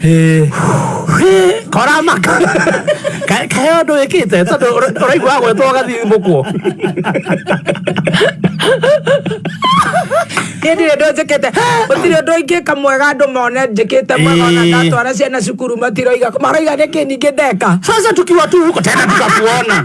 Hĩ. Hĩ, koramaka Ka- kahe å ndå wä kä te tondå å raigua gwetwo gathimå kwo hĩndĩ ĩrĩa ndå njĩkĩte gũtirĩ ũndå ingĩka mwega andå mone njĩkĩte mwega ona Ĩĩ. ndatwara ciana cukuru matiroiga maroiga nä kä ningä ndeka sasa tukiwa tu huko tena tukakuona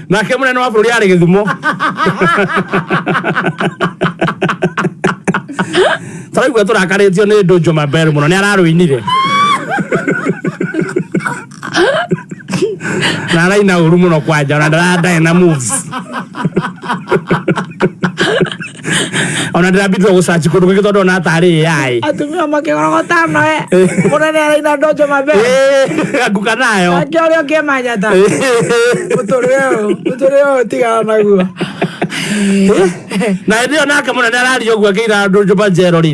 nake munene wa bũrũri arĩ gĩthumo taraigua tũrakarĩtio nĩ ndũnjũ mabel mũno nĩ ararũinire na araina ũru mũno kwanja ona ndara- ndarĩ na moves ona ndĩrambitire gũcaci kũndũ kũngĩ tondũ ona atarĩ yaĩ atumia makĩgorogota noe mũnene araina ndonjo mabere nguka nayo ake ũrĩa ũkĩmanyata mũtũrĩre ũyũ mũtũrĩre ũyũ tigana naguo na hĩndĩ ĩyo nake mũnene araria ũguo akĩira andũ njũmba njero rĩ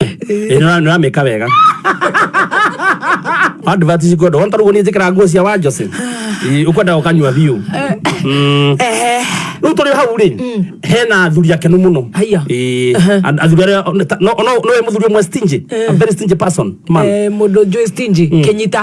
Ĩ, nĩra- nĩramĩka wega advert cikwenda wona tarĩu niĩ njĩkĩra nguo cia wanjose ũkwenda ũkanyua biũ Mm. rĩu tũrĩ hau rĩ hena athuri akenu mũno Haiya. Ĩ, and- athuri arĩa no- no- no wĩ mũthuri ũmwe stingy a very stingy person man Eh, mũndũ njũĩ stingy kĩnyita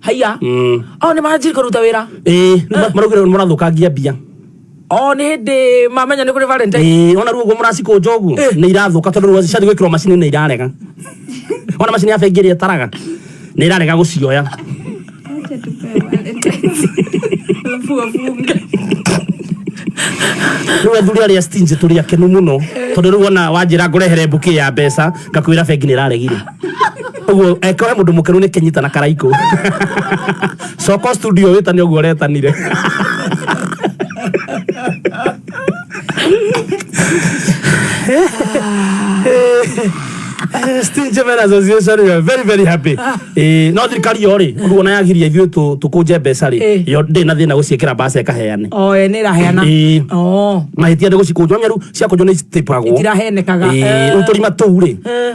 haiya Mm. o nä manjiri kå ruta wä ra Eh, nĩ- maraugire mũrathũkangia mbia o nä hä ndä mamenya nä kå rä valentine Eh, ona ruo guo mũracikũnja ũguo Eh. nĩ irathũka tondũ rĩu ciathiĩ gwĩkĩrwo macini nĩ irarega ona macini ya bengi ĩrĩa ĩtaraga nĩ irarega gũcioya Acha tupewe Valentine. Alafu wafunge. rĩu athuri arĩa stingy tũrĩ akenu mũno tondũ rĩu ona wanjĩra ngũrehere mbũkĩ ya mbeca ngakwĩra bengi nĩ ĩraregire uguo eke we mundu mukeru ni kinyita na karaiko coko studio witane uguo retanire Steve Jevon Association, we are very very happy. Eh, no thirikari yo ri, ruo na yagiria ithuĩ tũ- tũkũnje mbeca rĩ, Eh. yo ndĩ na thĩna gũciĩkĩra mbaca ĩkaheane. o ene ĩraheana Ĩĩ. o mahĩtia nĩ gũcikũnjwo nyaru ciakũnjwo nĩ citĩpagwo Itirahenekaga. Eh. rĩu tũrima tũu rĩ Eh.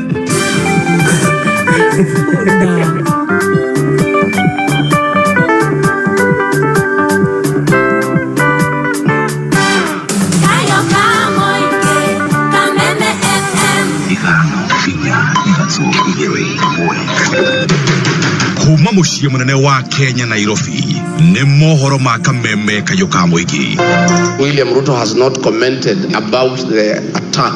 kuma mũciĩ mũnene wa kenya nairobi nĩ mohoro ma kameme kayũ ka mũingĩ William Ruto has not commented about the attack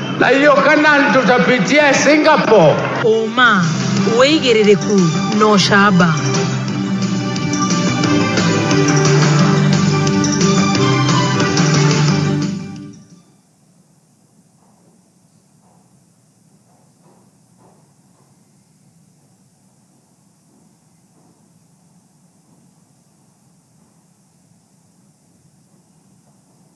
na hiyo Kanani tutapitia Singapore. ũma wĩigĩrĩrĩku na ũcamba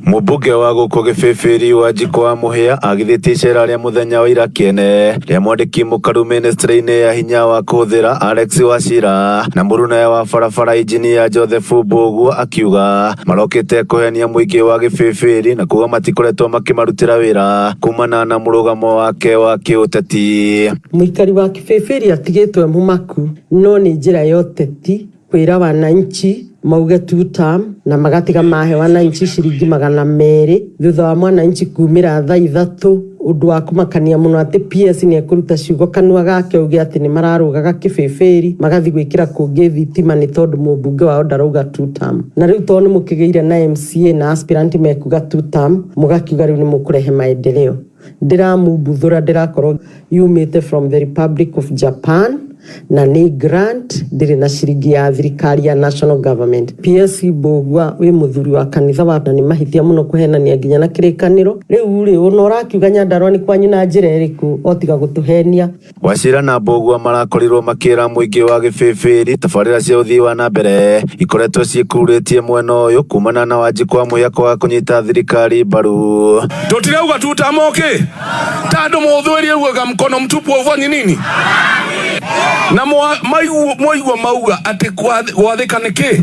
Mũmbunge wa gũkũ Gĩbĩbĩri Wanjikũ wa Mũhĩa agithĩtie icera rĩa mũthenya wa ira kĩene rĩa mwandĩki mũkaru ministry-inĩ ya hinya wa kũhũthĩra Alex Wachira na mũrunaya wa barabara injinia Joseph Mbũguo akiuga marokĩte kũhenia mũingĩ wa Gĩbĩbĩri na kuga matikoretwo makĩmarutĩra wĩra kumana na mũrũgamo wake wa kĩũteti. Mũikari wa Kĩbĩbĩri atigĩtwo e mũmaku no nĩ njĩra ya ũteti kwĩra wananchi mauge two term na magatiga mahe wananchi ciringi magana merĩ thutha wa mwananchi kumĩra thaa ithatũ ũndũ wa kũmakania mũno atĩ PS nĩ ekũruta ciugo kanua gake auge atĩ nĩ mararũgaga kĩbĩbĩri magathi gwĩkĩra kũngĩ thitima nĩ tondũ mũmbunge wao ndarauga two term na rĩu tondũ nĩ mũkĩgĩire na MCA na aspirant mekuga two term mũgakiuga rĩu nĩ mũkũrehe maendeleo Ndĩramumbuthũra ndĩrakorwo yumĩte from the Republic of Japan na nĩ grant ndĩrĩ na ciringi ya thirikari ya national government. PS Mbũgua wĩ mũthuri wa kanitha wa na nĩ mahĩtia mũno kũhenania nginya na kĩrĩkanĩro. Rĩu rĩ, ũna ũrakiuga Nyandarũa nĩ kwanyu na njĩra ĩrĩkũ o tiga gũtũhenia? Wachira na Mbũgua marakorirwo makĩra mũingĩ wa Gĩbĩbĩri tabarĩra cia ũthii wa na mbere ikoretwo ciĩkururĩtie mwena ũyũ kumana na Wanjikũ wa mũiya kwaga kũnyita thirikari mbaru. Tutirauga tutamoke tando muthwiri ugaga mkono mtupu ufanyi nini na mwa- maigu- mwaigua mauga ati gwathika niki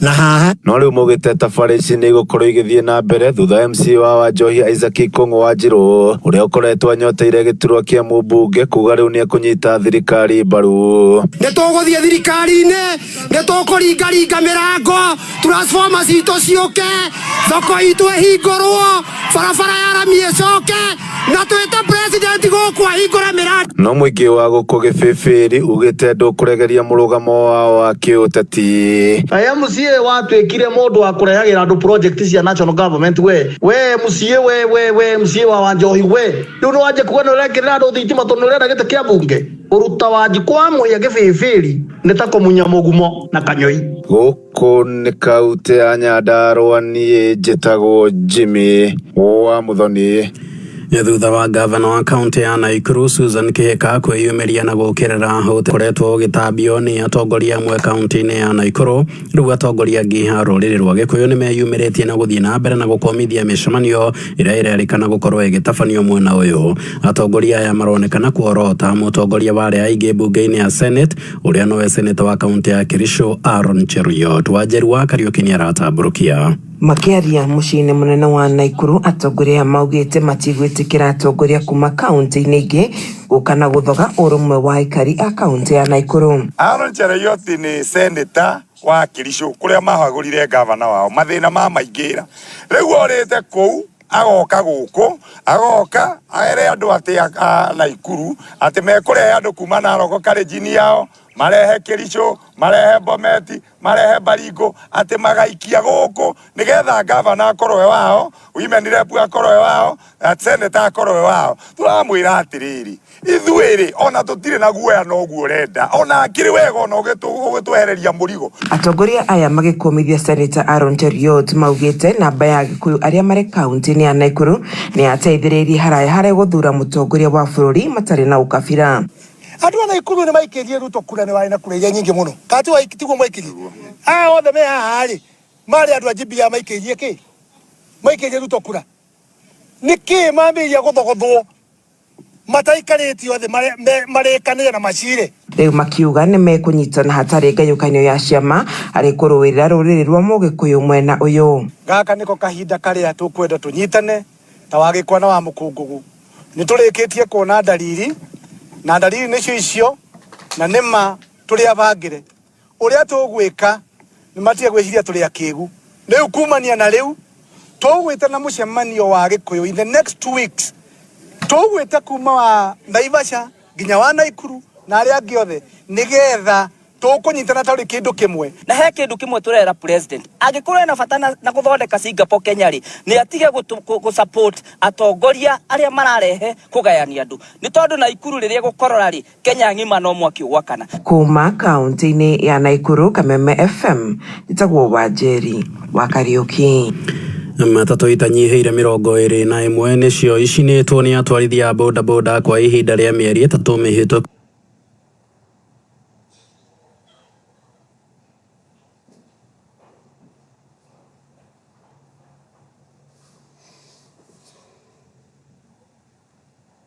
na haha no rĩu mũgĩteta barĩ ici nĩ igũkorwo igĩthiĩ na mbere thutha MC wa Wanjohi Isaac Ikũng'ũ wa Njirũ ũrĩa ũkoretwo anyoteire gĩturwa kĩa mũmbunge kuga rĩu nĩ ekũnyita thirikari mbaru nĩ tũgũthiĩ thirikari-inĩ nĩ tũkũringaringa mĩrango transforma citũ ciũke thoko itũ ĩhingũrwo barabara ya rami ĩcoke na twĩte president gũkũ ahingũre mĩrandi no mũingĩ wa gũkũ gĩbĩbĩri ugĩte ndũkũregeria mũrũgamo wao wa kĩũteti Aya MCA watuĩkire mũndũ wa kũrehagĩra andũ project cia national government we we MCA we we we MCA wa Wanjohi we rĩu nĩ wanjia kuga nĩ ũrekĩrĩra andũ thitima tondũ nĩ ũrenda gĩtĩ kĩa bunge ũruta wanji kwa mũhĩa gĩbĩbĩri nĩ ta kũmunya mũgumo na kanyoi gũkũ Kũnĩkaute ya Nyandarũa niĩ njĩtagwo Jimmy wa Mũthoni. Nĩ thutha wa ngavana wa kaunti ya Naikuru Susan Kĩhĩka kwĩyumĩria na gũkĩrĩra ũtĩ koretwo ũgĩtambio nĩ atongoria amwe kaunti-inĩ ya Naikuru. Rĩu atongoria angĩ a rũrĩrĩ rwa Gĩkũyũ nĩ meyumĩrĩtie na gũthiĩ na mbere na gũkomithia mĩcemanio ĩrĩa ĩrerĩkana gũkorwo ĩgĩtabanio mwena ũyũ. Atongoria aya maronekana kuorota mũtongoria wa arĩa aingĩ mbunge-inĩ ya Senate ũrĩa nowe seneta wa kaũntĩ ya Kericho Aaron Cheruiyot Wanjeru wa Kariuki nĩaratambũrũkia Makĩaria mũciĩ-inĩ mũnene wa Naikuru, atongoria aya maugĩte matigwĩtĩkĩra atongoria kuma kauntĩ-inĩ ingĩ gũka na gũthoga ũrũmwe wa aikari a kauntĩ ya Naikuru. Aaron Cheruiyot nĩ seneta wa Kericho kũrĩa mahagũrire ngavana wao, mathĩna mamaingĩra, rĩu orĩte kũu. agoka gũkũ agoka aere andũ atĩ a Naikuru atĩ mekũrehe andũ kuma Naroko karĩnjini yao marehe Kĩricũ marehe Bomet marehe Baringo atĩ magaikia gũkũ nĩgetha ngavana akorwo e wao women rep akorwo e wao na seneta akorwo e wao, tũramwĩra atĩrĩrĩ ithuĩ-rĩ o na tũtirĩ na guoya noguo ũrenda o na hakĩrĩ wega o na ũgĩtwehereria mũrigo. Atongoria aya magĩkũmithia Seneta Aaron Cheruiyot maugĩte namba ya Agĩkũyũ arĩa marĩ kauntĩ-inĩ ya Naikuru nĩyateithĩrĩirie haraya harĩ gũthura mũtongoria wa bũrũri matarĩ na ũkabira. Andũ a Naikuru nĩmaikĩirie Ruto kura nĩ warĩ na kura iria nyingĩ mũno. Kana tiguo tiguo mwaikirie? Aya othe me haha-rĩ marĩ andũ a GBA maikĩirie kĩĩ? Maikĩirie Ruto kura. Nĩkĩĩ mambĩrĩria gũthogothwo? mataikarĩtio thĩ mare- me- marĩkanĩre na macirĩ rĩu makiuga nĩ mekũnyitana hatarĩ ngayũkanio ya ciama harĩ kũrũĩrĩra rũrĩrĩ rwa mũgĩkũyũ mwena ũyũ gaka nĩko kahinda karĩa tũkwenda tũnyitane ta wa gĩkwa na wa mũkũngũgũ nĩ tũrĩkĩtie kuona ndariri na ndariri nĩcio icio na nĩma tũrĩ abangĩre Ũrĩa tũgwĩka nĩ matige gwĩciria tũrĩ akĩgu. Rĩu kumania na rĩu tũgwĩte na mũcemanio wa Gĩkũyũ in the next two weeks. Tũgwĩte kuma wa Naivasha nginya wa Naikuru na arĩa angĩ othe nĩgetha tũkũnyitana tũrĩ kĩndũ kĩmwe. Na he kĩndũ kĩmwe tũrera president, angĩkorwo ena bata na, na gũthondeka Singapore Kenya rĩ, nĩ atige gũtũ- kũ- gũ support atongoria arĩa mararehe kũgayania andũ, nĩ tondũ Naikuru rĩrĩa gũkorora rĩ Kenya ng'ima no mwaki ũgwakana. Kuuma kaũntĩ-inĩ ya Naikuru, Kameme FM, njĩtagwo Wanjeri wa Kariuki. Matatũ itanyihĩire mĩrongo ĩrĩ na ĩmwe nĩcio icinĩtwo nĩ atwarithia a bodaboda kwa ihinda rĩa mĩeri ĩtatũ mĩhĩtũku.